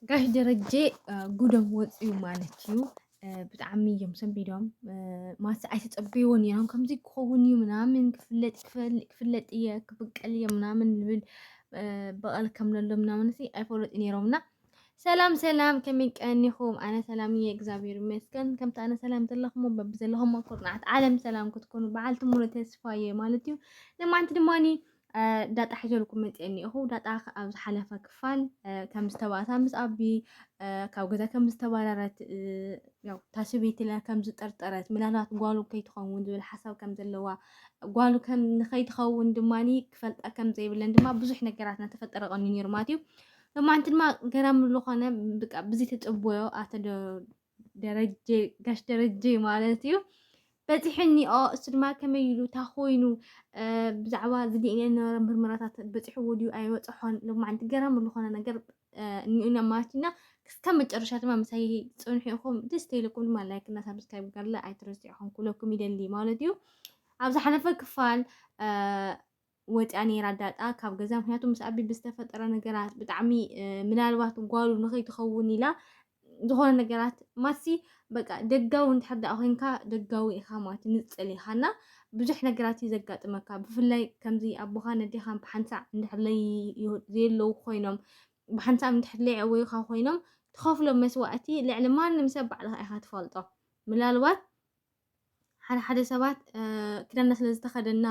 ጋሽ ደረጀ ጉዶም ወፅዩ ማለት እዩ ብጣዕሚ እዮም ሰንቢዶም ማለት ኣይተፀበይዎን እዮም ከምዚ ክኸውን እዩ ምናምን ክፍለጥ ክፍለጥ እየ ክብቀል እየ ምናምን ዝብል በቐል ከም ዘሎ ምናምን ሲ ኣይፈለጡ ነይሮም እና ሰላም ሰላም ከመይ ቀኒኹም ኣነ ሰላም እየ እግዚኣብሔር ይመስገን ከምቲ ኣነ ሰላም ዘለኹም በቢ ዘለኹም ኩርናዓት ዓለም ሰላም ክትኮኑ በዓልቲ ሙሉ ተስፋ እየ ማለት እዩ ንማንቲ ድማ ዳጣ ሒዘልኩም መፅየ እኒኦኹ ዳጣ ኣብ ዝሓለፈ ክፋል ከም ዝተባእሳ ምስ ኣቢ ካብ ገዛ ከም ዝተባረረት ያው ታስቢትለ ከም ዝጠርጠረት ምናልባት ጓሉ ከይትኸውን ዝብል ሓሳብ ከም ዘለዋ ጓሉ ከም ንኸይትኸውን ድማኒ ክፈልጣ ከም ዘይብለን ድማ ብዙሕ ነገራት እናተፈጠረ ቀኒ ነይሩ ማለት እዩ። ሎማንቲ ድማ ገራሚ ዝኾነ ብቃ ብዚ ተፅቦዮ ኣተደ ደረጀ ጋሽ ደረጀ ማለት እዩ በፂሐኒኦ እሱ ድማ ከመይ ኢሉ እታ ኮይኑ ብዛዕባ ዝድእነ ነበረ ምርመራታት በፂሕዎ ድዩ ኣይበፅሖን ሎም መዓንቲ ገራሚ ዝኾነ ነገር እኒኡና ማለት ኢና እስካብ መጨረሻ ድማ ምሳይ ፅንሑ ኢኹም ደስ ተይለኩም ድማ ላይክ እና ሳብስክራይብ ጋርለ ኣይትረስዑ ኢኹም ኩለኩም ይደሊ ማለት እዩ ኣብ ዝሓለፈ ክፋል ወጺኣ ነይራ ዳጣ ካብ ገዛ ምክንያቱ ምስ ኣቢ ብዝተፈጠረ ነገራት ብጣዕሚ ምናልባት ጓሉ ንኸይትኸውን ኢላ ዝኾነ ነገራት ማሲ በቃ ደጋዊ እንድሕር ደኣ ኮንካ ደጋዊ ኢኻ ማለት ንጽል ኢኻ እና ብዙሕ ነገራት እዩ ዘጋጥመካ ብፍላይ ከምዚ ኣቦኻ ነዴኻን ብሓንሳዕ እንድሕር ዘየለዉ ኮይኖም ብሓንሳዕ እንድሕር ለይዕወዩኻ ኮይኖም ትኸፍሎ መስዋእቲ ልዕሊ ማንም ሰብ ባዕልኻ ኢኻ ትፈልጦ ምናልባት ሓደ ሓደ ሰባት ክዳና ስለ ዝተኸደና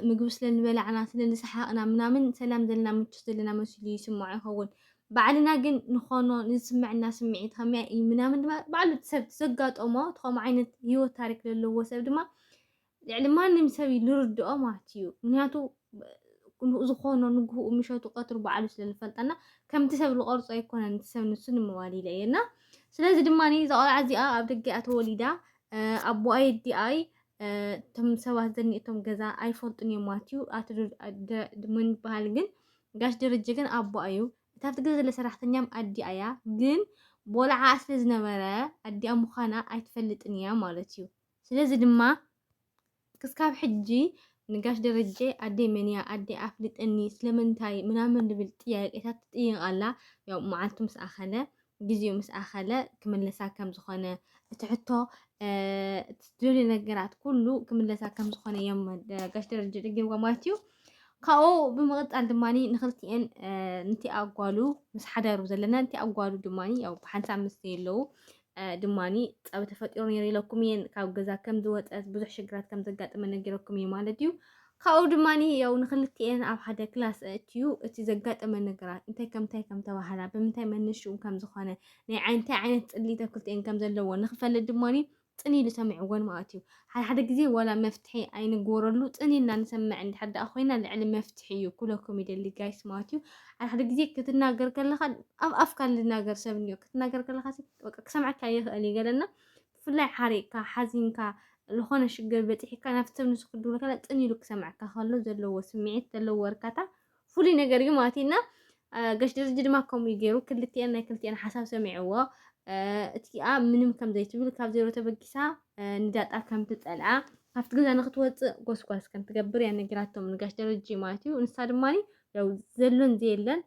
ምግቢ ስለ ዝበላዕና ስለ ዝሰሓቕና ምናምን ሰላም ዘለና ምቹት ዘለና መሲሉ ይስምዖ ይኸውን ባዕልና ግን ንኾኖ ንዝስምዐና ስምዒት ከመይ እዩ ምናምን ድማ ባዕሉ ሰብ ዘጋጠሞ እቲ ከምኡ ዓይነት ህይወት ታሪክ ዘለዎ ሰብ ድማ ልዕሊ ማንም ሰብ እዩ ንርድኦ ማለት እዩ ምክንያቱ ዝኾኖ ንግህኡ ምሸቱ ቀትሩ በዓሉ ስለ ንፈልጠና ከምቲ ሰብ ዝቐርጾ ኣይኮነን እቲ ሰብ ንሱ ንመዋሊለ እየና ስለዚ ድማ እዛ ቆልዓ እዚኣ ኣብ ደገ እያ ተወሊዳ ኣቦኣ የዲኣይ እቶም ሰባት ዘኒእቶም ገዛ ኣይፈልጡን እዮም ማለት እዩ ኣቲ ምን ይበሃል ግን ጋሽ ደረጀ ግን ኣቦኣ እዩ እታ ኣብቲ ገዛ ዘለ ሰራሕተኛም ኣዲኣ እያ ግን ቦልዓ ስለ ዝነበረ ኣዲኣ ምዃና ኣይትፈልጥን እያ ማለት እዩ ስለዚ ድማ ክስካብ ሕጂ ንጋሽ ደረጀ ኣደይ መን እያ ኣደይ ኣፍልጠኒ ስለምንታይ ምናምን ዝብል ጥያቄታት ትጥይቕ ኣላ ያው መዓልቱ ምስ ኣኸለ ግዜኡ ምስ ኣኸለ ክምለሳ ከም ዝኾነ እቲ ሕቶ ትደልዮ ነገራት ኩሉ ክምለሳ ከም ዝኾነ እዮም ጋሽ ደረጀ ደጊምዋ ማለት እዩ ካብኡ ብምቕፃል ድማ ንክልቲኤን ንቲ ኣጓሉ ምስ ሓዳሩ ዘለና ንቲ ኣጓሉ ድማ ያው ብሓንሳብ ምስ ዘየለዉ ድማኒ ጸብ ተፈጢሩ ነይሩ ኢለኩም እየን ካብ ገዛ ከም ዝወጸት ብዙሕ ሽግራት ከም ዘጋጥመ ነጊረኩም እየ ማለት እዩ ካብኡ ድማኒ ያው ንክልቲኤን ኣብ ሓደ ክላስ ኣእትዩ እቲ ዘጋጠመ ነገራት እንታይ ከምታይ ከም ተባህላ ብምንታይ መነሽኡ ከም ዝኾነ ናይ እንታይ ዓይነት ጽሊት ኣብ ክልቲኤን ከም ዘለዎ ንክፈልጥ ድማኒ ጽን ኢሉ ሰሚዕወን ማለት እዩ ሓደ ሓደ ግዜ ዋላ መፍትሒ ኣይንግበረሉ ጽን ኢልና ንሰምዕ እንድሕር ደኣ ኮይና ልዕሊ መፍትሒ እዩ ኩለኩም ይደሊ ጋይስ ማለት እዩ ሓደ ሓደ ግዜ ክትናገር ከለካ ኣብ ኣፍካ ዝናገር ሰብ እንዮ ክትናገር ከለካ በቃ ክሰምዐካ ይኽእል እዩ ገለና ብፍላይ ሓሪቕካ ሓዚንካ ዝኾነ ሽግር በፂሕካ ናብቲ ሰብ ንሱ ክድውል ከላ ጽን ኢሉ ክሰምዐካ ከሎ ዘለዎ ስምዒት ዘለዎ እርካታ ፍሉይ ነገር እዩ ማለት እና ገሽ ደረጀ ድማ ከምኡ እዩ ገይሩ ክልቲኤን ናይ ክልቲኤን ሓሳብ ሰሚዕዎ እቲኣ ምንም ከም ዘይትብል ካብ ዜሮ ተበጊሳ ንዳጣ ከም ትጸልኣ ካብቲ ገዛ ንክትወፅእ ጎስጓስ ከም ትገብር እያ ነጊራቶም ንጋሽ ደረጀ ማለት እዩ ንሳ ድማ ያው ዘሎን ዘየለን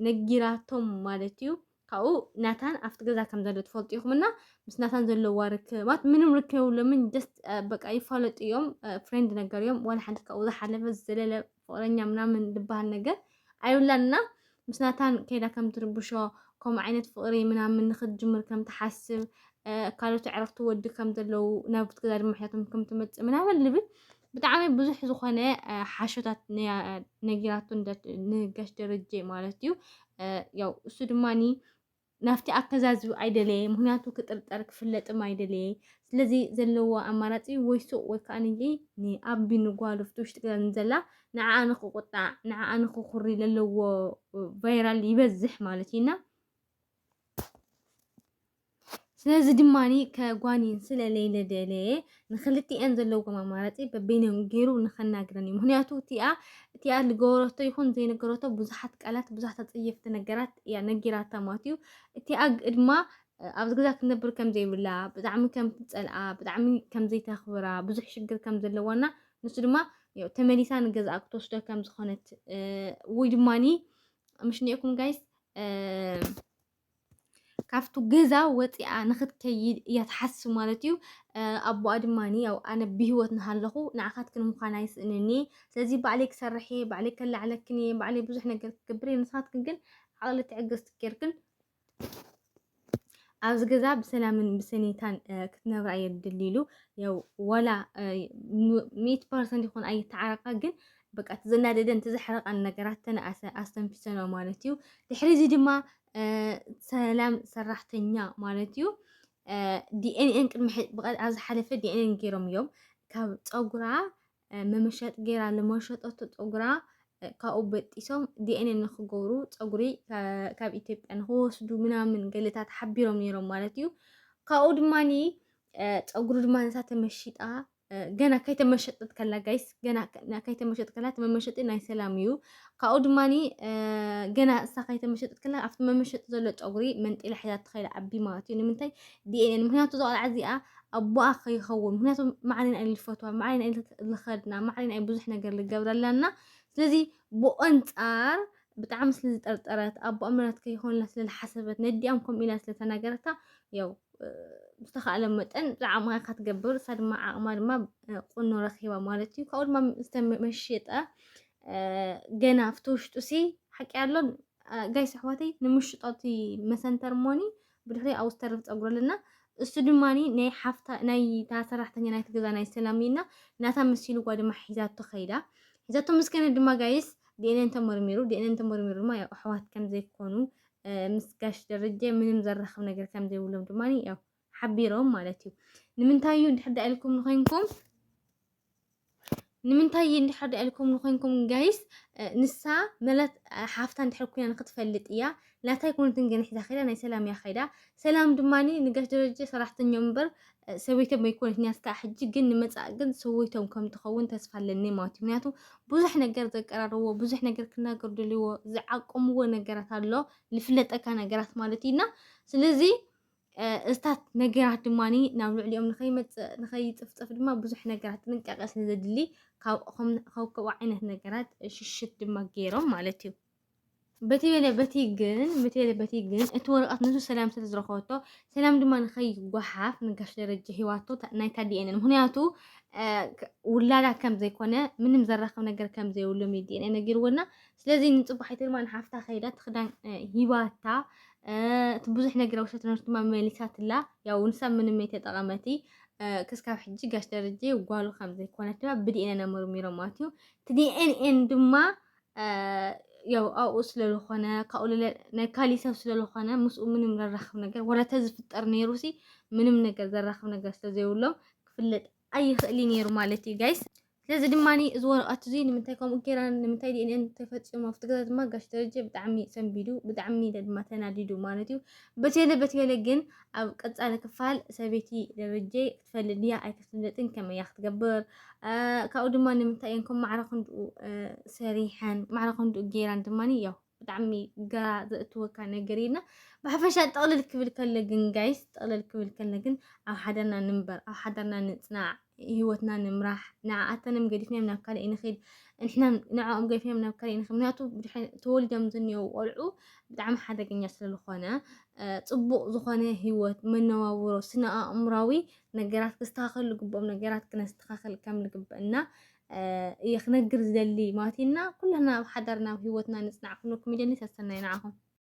ነጊራቶም ማለት እዩ ካብኡ ናታን ኣብቲ ገዛ ከም ዘሎ ትፈልጡ ኢኹም እና ምስ ናታን ዘለዋ ርክባት ምንም ርክብ የብሎምን። ደስ በቃ ይፋለጡ እዮም፣ ፍሬንድ ነገር እዮም። ዋላ ሓንቲ ካብኡ ዝሓለፈ ዝዘለለ ፍቅረኛ ምናምን ዝበሃል ነገር ኣይብላን እና ምስ ናታን ከይዳ ከም ትርብሾ ከምኡ ዓይነት ፍቅሪ ምናምን ንክትጅምር ከም ትሓስብ ካልኦት ዕረፍቲ ወዲ ከም ዘለዉ ናብቲ ገዛ ድማ ሕያቶም ከም ትመፅእ ምናምን ልብል ብጣዕሚ ብዙሕ ዝኾነ ሓሾታት ነጊራቶ ንጋሽ ደረጀ ማለት እዩ ያው እሱ ድማኒ ናብቲ ኣከዛዝብ ኣይደለየ ምክንያቱ ክጥርጠር ክፍለጥም ኣይደለየ ስለዚ ዘለዎ ኣማራፂ ወይ ሱቅ ወይ ከዓ ንይ ንኣቢ ንጓሉ ፍቲ ውሽጢ ገዛ ንዘላ ንዓኣ ንክቁጣዕ ንዓኣ ንክኩሪ ዘለዎ ቫይራል ይበዝሕ ማለት እዩና ስለዚ ድማ ከጓንየን ስለ ለይለደለየ ንክልቲኤን ዘለዎም ኣማራፂ በበይኖም ገይሩ ንኸናግረን እዩ ምክንያቱ እቲኣ እቲኣ ዝገበረቶ ይኹን ዘይነገረቶ ብዙሓት ቃላት ብዙሓት ኣፀየፍቲ ነገራት እያ ነጊራታ ማለት እዩ እቲኣ ድማ ኣብዚ ገዛ ክትነብር ከም ዘይብላ ብጣዕሚ ከም ትፀልኣ ብጣዕሚ ከም ዘይተኽብራ ብዙሕ ሽግር ከም ዘለዋና ንሱ ድማ ያው ተመሊሳ ንገዛኣ ክትወስዶ ከም ዝኾነት ወይ ድማኒ ምሽ ኒኤኩም ጋይስ ካብቱ ገዛ ወፂኣ ንክትከይድ እያ ትሓስብ ማለት እዩ ኣቦኣ ድማ ያው ኣነ ብሂወት ንሃለኹ ንዓኻትክን ምዃን ኣይስእንን እየ ስለዚ ባዕለይ ክሰርሕ እየ ባዕለይ ከላዕለክን እየ ባዕለይ ብዙሕ ነገር ክገብር እየ ንስኻትክን ግን ዓቕሊ ትዕግስቲ ጌርክን ኣብዚ ገዛ ብሰላምን ብሰኔታን ክትነብራ እየ ድልሉ ያው ዋላ ሚእቲ ፐርሰንት ይኹን ኣይተዓረቃ ግን በቃ እቲ ዘናደደን እቲ ዘሕረቐን ነገራት ተነኣሰ ኣስተንፊሰኖ ማለት እዩ። ድሕሪ እዚ ድማ ሰላም ሰራሕተኛ ማለት እዩ ዲኤንኤን ቅድሚ ኣብ ዝሓለፈ ዲኤንኤን ገይሮም እዮም ካብ ፀጉራ መመሸጥ ገይራ ለመሸጠቶ ፀጉራ ካብኡ በጢሶም ዲኤንኤን ንክገብሩ ፀጉሪ ካብ ኢትዮጵያ ንክወስዱ ምናምን ገለታት ሓቢሮም ነይሮም ማለት እዩ ካብኡ ድማኒ ፀጉሪ ድማ ነታ ተመሺጣ ገና ከይተመሸጥት ከላ ጋይስ ገና ከይተመሸጥ ከላ እቲ መመሸጢ ናይ ሰላም እዩ ካብኡ ድማኒ ገና እሳ ከይተመሸጥት ከላ ኣብቲ መመሸጢ ዘሎ ፀጉሪ መንጢላ ሒዛ ትኸይዳ ዓቢ ማለት እዩ ንምንታይ ዲኤንኤን ምክንያቱ እዛ ቆልዓ እዚኣ ኣቦኣ ከይኸውን ምክንያቱ ማዕሪን ኣይ ልፈትዋ ማዕሪን ኣይ ልኸድና ማዕሪን ኣይ ብዙሕ ነገር ልገብረላና ስለዚ ብኣንፃር ብጣዕሚ ስለ ዝጠርጠረት ኣቦኣ ምራት ከይኮንላ ስለ ዝሓሰበት ነዲኣም ከምኡ ኢላ ስለ ተናገረታ ያው ዝተኻእለ መጠን ዝዓቕማ ኢኻ ትገብር እሳ ድማ ዓቕማ ድማ ቁኖ ረኺባ ማለት እዩ ካብኡ ድማ ዝተመሸጠ ገና ኣብቲ ውሽጡ ሲ ሓቂ ኣሎን ጋይስ ኣሕዋተይ ንምሽጦ እቲ መሰንተር ሞኒ ብድሕሪኣ ኣብ ዝተርፍ ፀጉሪ ኣለና እሱ ድማ ናይ ሓፍታ ናይ ሰራሕተኛ ናይቲ ገዛ ናይ ሰላም እዩና ናታ መሲልዋ ድማ ሒዛቶ ከይዳ ሒዛቶ ምስ ከነ ድማ ጋይስ ዲኤንኤን ተመርሚሩ ዲኤንኤን ተመርሚሩ ድማ ያው ኣሕዋት ከም ዘይኮኑ ምስ ጋሽ ደረጀ ምንም ዘራኽብ ነገር ከም ዘይብሎም ድማ ያው ሓቢሮም ማለት እዩ ንምንታይ እዩ ድሕዳ ኢልኩም ንኮይንኩም ንምንታይ እንድሕር ድኣ ኢልኩም ንኮንኩም ጋይስ ንሳ መለት ሓፍታ እንድሕር ኮይና ንክትፈልጥ እያ ናታ ኣይኮነትን ግን ሒዛ ከይዳ ናይ ሰላም እያ ከይዳ ሰላም ድማኒ ንጋሽ ደረጀ ሰራሕተኛ እምበር ሰበይቶም ኣይኮነትን እያ እስካዕ ሕጂ ግን ንመጻእ ግን ሰበይቶም ከም ትኸውን ተስፋ ኣለኒ ማለት እዩ ምክንያቱ ብዙሕ ነገር ዘቀራርዎ ብዙሕ ነገር ክናገሩ ደልዎ ዝዓቀምዎ ነገራት ኣሎ ዝፍለጠካ ነገራት ማለት እዩና ስለዚ እዝታት ነገራት ድማ ናብ ልዕሊኦም ንኸይመፅእ ንኸይፅፍፅፍ ድማ ብዙሕ ነገራት ጥንቃቐ ስለ ዘድሊ ካብኡ ዓይነት ነገራት ሽሽት ድማ ገይሮም ማለት እዩ በቲ በለ በቲ ግን በቲ በለ በቲ ግን እቲ ወረቐት ንሱ ሰላም ስለ ዝረኸበቶ ሰላም ድማ ንኸይጓሓፍ ንጋሽ ደረጀ ሂዋቶ ናይታ ዲኤንን ምክንያቱ ውላዳ ከም ዘይኮነ ምንም ዘራኸብ ነገር ከም ዘይብሎም ዲኤንኤ ነጊርዎና ስለዚ ንፅባሒት ድማ ንሓፍታ ከይዳ ትክዳን ሂባታ እቲ ብዙሕ ነገር ውሸት ነርሱ ድማ መሊሳትላ ያው ንሳ ምንም የተጠቐመቲ ክስካብ ሕጂ ጋሽ ደረጀ ጓሉ ከም ዘይኮነት ድማ ብዲኤንኤ መርሚሮም ማለት እዩ እቲ ዲኤንኤን ድማ ያው ኣብኡ ስለዝኾነ ካብኡ ልለ ናይ ካሊእ ሰብ ስለዝኾነ ምስኡ ምንም ዘራኽብ ነገር ወላ ተዝፍጠር ነይሩ ሲ ምንም ነገር ዘራኽብ ነገር ስለዘይብሎም ክፍለጥ ኣይኽእልን ነይሩ ማለት እዩ ጋይስ ስለዚ ድማ እዚ ወረቐት እዚ ንምንታይ ከምኡ ጌራን ንምንታይ ዲኤንኤን ተፈፂሙ ኣብቲ ገዛ ድማ ጋሽ ደረጀ ብጣዕሚ ሰንቢዱ ብጣዕሚ ድማ ተናዲዱ ማለት እዩ። በቴለ በቴለ ግን ኣብ ቀፃሊ ክፋል ሰበይቲ ደረጀ ክትፈልጥ ድያ ኣይክትፍለጥን ከመይ እያ ክትገብር ካብኡ ድማ ንምንታይ እየን ከም ማዕረ ክንድኡ ሰሪሐን ማዕረ ክንድኡ ጌራን ድማ ያው ብጣዕሚ ግራ ዘእትወካ ነገር ኢና ብሓፈሻ ጥቕልል ክብል ከለ ግን ጋይስ ጥቕልል ክብል ከለ ግን ኣብ ሓዳርና ንንበር ኣብ ሓዳርና ንፅናዕ ህይወትና ንምራሕ ንዓኣተንም ገዲፍናዮም ናብ ካልእ ንኽድ ንሕና ንዕኦም ገዲፍናዮም ናብ ካልእ ንኽድ ምክንያቱ ተወሊዶም ዝኒው ቆልዑ ብጣዕሚ ሓደገኛ ስለዝኾነ ፅቡቕ ዝኾነ ህይወት መነባብሮ ስነ ኣእምራዊ ነገራት ክስተኻኸሉ ግብኦም ነገራት ክነስተኻኸል ከም ዝግበእና እየ ክነግር ዝደሊ ማለት ኢና ኩላና ኣብ ሓዳርና ኣብ ሂወትና ንጽናዕ ክብለኩም ይደሊ ሰሰናዩ ንዓኹም